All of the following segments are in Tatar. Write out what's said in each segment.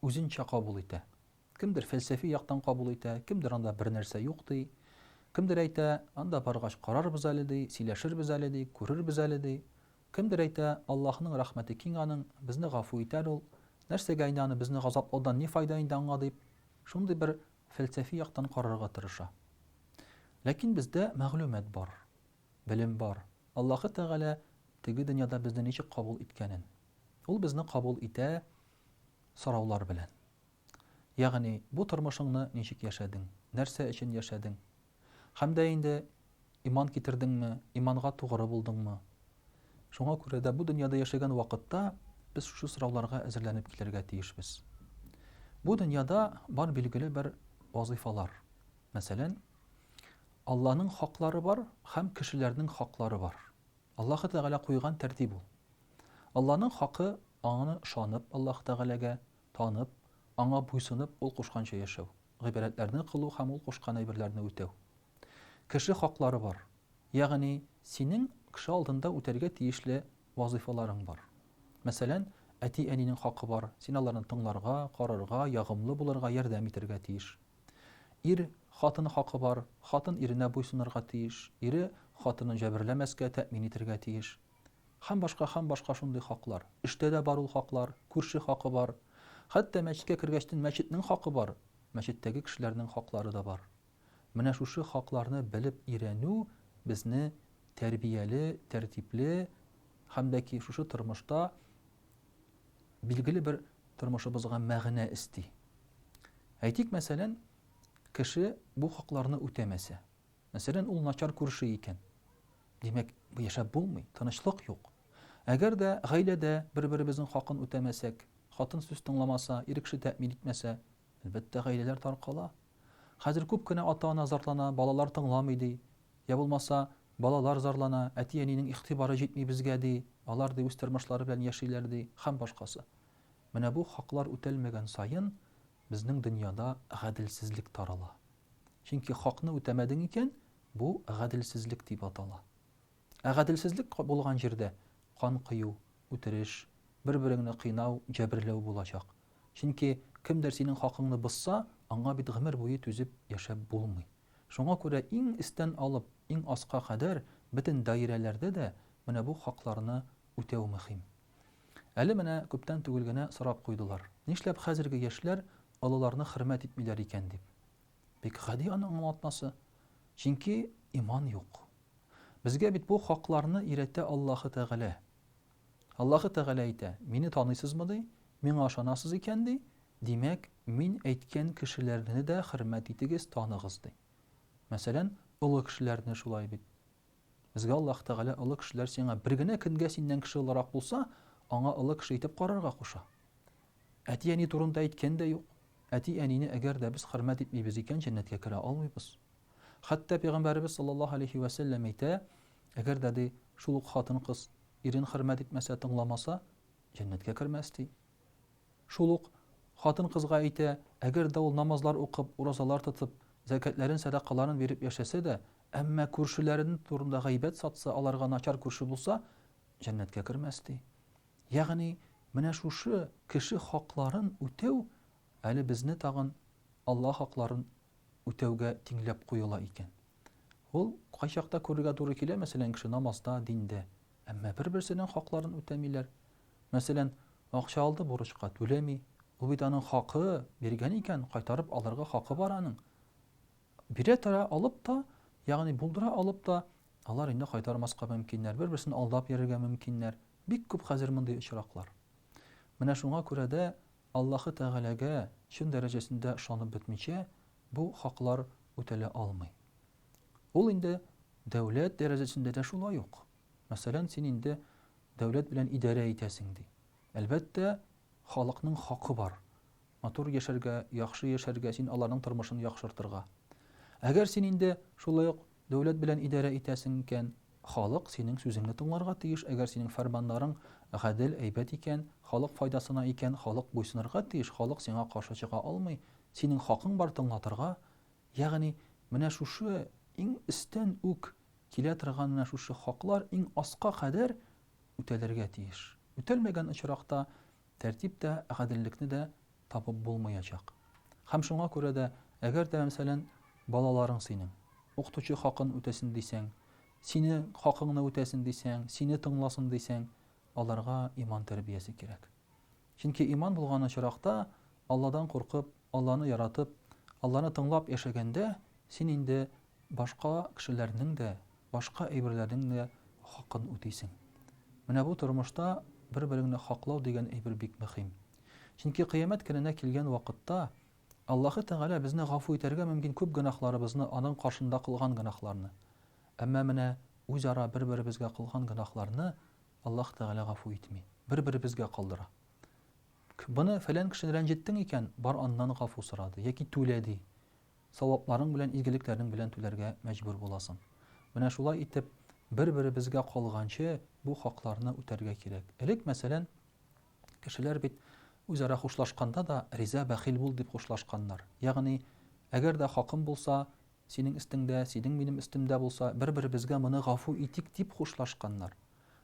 үзенчә кабул итә. Кемдер фәлсәфи яктан кабул итә, кемдер анда бернәрсә юк ди. Кемдер әйтә, анда баргач карарбыз әле ди, сөйләшербез әле ди, күрербез әле ди. Кемдер әйтә, Аллаһының рәхмәте киң аның, безне гафу итәр ул. Нәрсәгә инде аны безне газаплаудан ни файда инде аңа дип, шундый бер фәлсәфи яктан карарга тырыша. Ләкин бездә мәгълүмат бар, белем бар. Аллаһы Тәгалә теге дөньяда безне ничек кабул иткәнен. Ул безне кабул итә, сораулар белән. Ягъни, бу тормышыңны ничек яшәдең, нәрсә өчен яшәдең? Һәм дә инде иман китердеңме, иманга тугры булдыңмы? Шуңа күрә дә бу дөньяда яшәгән вакытта без шушы сорауларга әзерләнеп килергә тиешбез. Бу дөньяда бар билгеле бер вазыйфалар. Мәсәлән, Алланың хаклары бар һәм кешеләрнең хаклары бар. Аллаһы Тәгалә куйган тәртип ул. Алланың хакы, Аңа ышанып, Аллаһ Тәгаләгә, танып, Аңа буйсынып, Ул кушканча яшәү, гыйбадәтләрне кылу һәм Ул кушкан әйберләрне үтәү. Кеше хаклары бар. Ягъни, синең кеше алдында үтәргә тиешле вазыйфаларың бар. Мәсәлән, әти-әнинең хакы бар, син аларны тыңларга, карарга, ягымлы булырга, ярдәм итәргә тиеш. Ир, хатын хакы бар, хатын иренә буйсынырга тиеш, ире, хатынын җәберләмәскә, тәэмин итәргә тиеш. Һәм башка, һәм башка шундый хаклар. Эштә дә бар ул хаклар, күрше хакы бар. Хәтта мәчеткә кергәчтен мәчетнең хакы бар, мәчеттәге кешеләрнең хаклары да бар. Менә шушы хакларны белеп өйрәнү безне тәрбияле, тәртипле һәм дә ки шушы тормышта билгеле бер тормышыбызга мәгънә эсти. Әйтик, мәсәлән, кеше бу хакларны үтәмәсә, Мәсәлән, ул начар күрше икән. Димәк, яшәп булмый, тынычлык юк. Әгәр дә гаиләдә бер-беребезнең хакын үтәмәсәк, хатын сүз тыңламаса, ир кеше тәэмин итмәсә, әлбәттә, гаиләләр таркала. Хәзер күп кенә ата-ана зарлана, балалар тыңламый, ди. Йә булмаса, балалар зарлана, әти-әнинең игътибары җитми безгә, ди, алар, ди, үз тормышлары белән яшиләр, ди, һәм башкасы. Менә бу хаклар үтәлмәгән саен, безнең дөньяда гаделсезлек тарала. Чөнки хакны үтәмәдең икән, бу гаделсезлек дип атала. Ә гаделсезлек булган җирдә кан кою, үтереш, бер-береңне кыйнау, җәберләү булачак. Чөнки кемдер синең хакыңны бозса, аңа бит гомер буе түзеп яшәп булмый. Шуңа күрә иң эстән алып, иң аска кадәр бөтен даирәләрдә дә менә бу хакларны үтәү мөһим. Әле менә күптән түгел генә сорап куйдылар, нишләп хәзерге яшьләр олыларны хөрмәт итмиләр икән дип. Бик гади аның аңлатмасы. Чөнки иман юк. Безгә бит бу хакларны өйрәтә Аллаһы Тәгалә. Аллаһы Тәгалә әйтә, Мине таныйсызмы, ди, Миңа ышанасыз икән, ди, димәк, Мин әйткән кешеләрне дә хөрмәт итегез, таныгыз, ди. Мәсәлән, олы кешеләрне шулай бит. Безгә Аллаһ Тәгалә олы кешеләр сиңа бер генә көнгә синнән кеше олырак булса, аңа олы кеше итеп карарга куша. Әти-әни турында әйткән дә юк. Әти-әнине әгәр дә без хөрмәт итмибез икән, җәннәткә керә алмыйбыз. Хәтта Пәйгамбәребез саллаллаһу алейһи вә сәлләм әйтә, Әгәр дә, ди, шул ук хатын-кыз ирен хөрмәт итмәсә, тыңламаса, җәннәткә кермәс, ди. Шул ук хатын-кызга әйтә, Әгәр дә ул намазлар укып, уразалар тотып, зәкятләрен, сәдакаларын биреп яшәсә дә, Әмма күршеләрен турында гайбәт сатса, аларга начар күрше булса, җәннәткә кермәс, ди. Ягъни, менә шушы кеше хакларын үтәү әле безне тагын Алла хакларын үтәүгә тиңләп куела икән. Ул кайчакта күрергә туры килә, мәсәлән, кеше намазда, диндә, әмма бер-берсенең хакларын үтәмиләр. Мәсәлән, акча алды бурычка, түләми. Ул бит аның хакы, биргән икән, кайтарып алырга хакы бар аның. Бирә тора алып та, ягъни булдыра алып та, алар инде кайтармаска мөмкиннәр, бер-берсен алдап йөрергә мөмкиннәр. Бик күп хәзер мондый очраклар. Менә шуңа күрә дә Аллаһы Тәгаләгә чын дәрәҗәсендә ышанып бетмичә, бу хаклар үтәлә алмый. Ул инде дәүләт дәрәҗәсендә дә шулай ук. Мәсәлән, син инде дәүләт белән идарә итәсең ди. Әлбәттә, халыкның хакы бар. Матур яшәргә, яхшы яшәргә, син аларның тормышын яхшыртырга. Әгәр син инде шулай ук дәүләт белән идарә итәсең икән, халык синең сүзеңне тыңларга тиеш, әгәр синең фәрманнарың гадел, әйбәт икән, халык файдасына икән, халык буйсынырга тиеш, халык сиңа каршы чыга алмый, синең хакың бар тыңлатырга. Ягъни менә шушы иң өстән үк килә торган менә шушы хаклар иң аска кадәр үтәлергә тиеш. Үтәлмәгән очракта Тәртип тә, гаделлекне дә табып булмаячак. Һәм шуңа күрә дә, әгәр дә, мәсәлән, балаларың синең, укытучы хакын үтәсен дисәң, сине, хакыңны үтәсен дисәң, сине тыңласын дисәң, аларга иман тәрбиясе кирәк. Чөнки иман булган очракта, Алладан куркып, Алланы яратып, Алланы тыңлап яшәгәндә, син инде башка кешеләрнең дә, башка әйберләрнең дә хакын үтисең. Менә бу тормышта бер-береңне хаклау дигән әйбер бик мөхим. Чөнки кыямәт көненә килгән вакытта Аллаһы Тәгалә безне гафу итәргә мөмкин күп гөнаһларыбызны, аның каршында кылган гөнаһларны. Әмма менә үзара бер-беребезгә кылган гөнаһларны Аллаһ Тәгалә гафу итми, бер-беребезгә калдыра. К, Быны фәлән кешене рәнҗеттең икән, бар аннан гафу сора, ди, яки түлә, ди. Савапларың белән, изгелекләрең белән түләргә мәҗбүр буласың. Менә шулай итеп, бер-беребезгә калганчы, бу хакларны үтәргә кирәк. Элек, мәсәлән, кешеләр бит үзара хушлашканда да, Риза, бәхил бул, дип хушлашканнар. Ягъни, әгәр дә хакым булса, синең өстеңдә, синең минем өстемдә булса, бер-беребезгә моны гафу итик, дип хушлашканнар.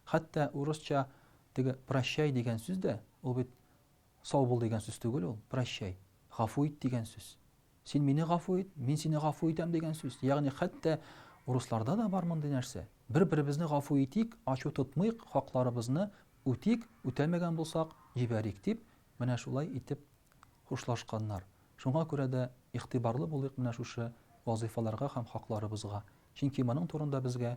Хәтта урысча теге прощай дигән сүз дә, ул бит Сау бул дигән сүз түгел ул, прощай, гафу ит дигән сүз. Син мине гафу ит, мин сине гафу итәм дигән сүз. Ягъни хәтта урысларда да бар мондый нәрсә. Бер-беребезне гафу итик, ачу тотмыйк, хакларыбызны үтик, үтәмәгән булсак, җибәрик, дип, менә шулай итеп хушлашканнар. Шуңа күрә дә игътибарлы булыйк менә шушы вазыйфаларга һәм хакларыбызга. Чөнки моның турында безгә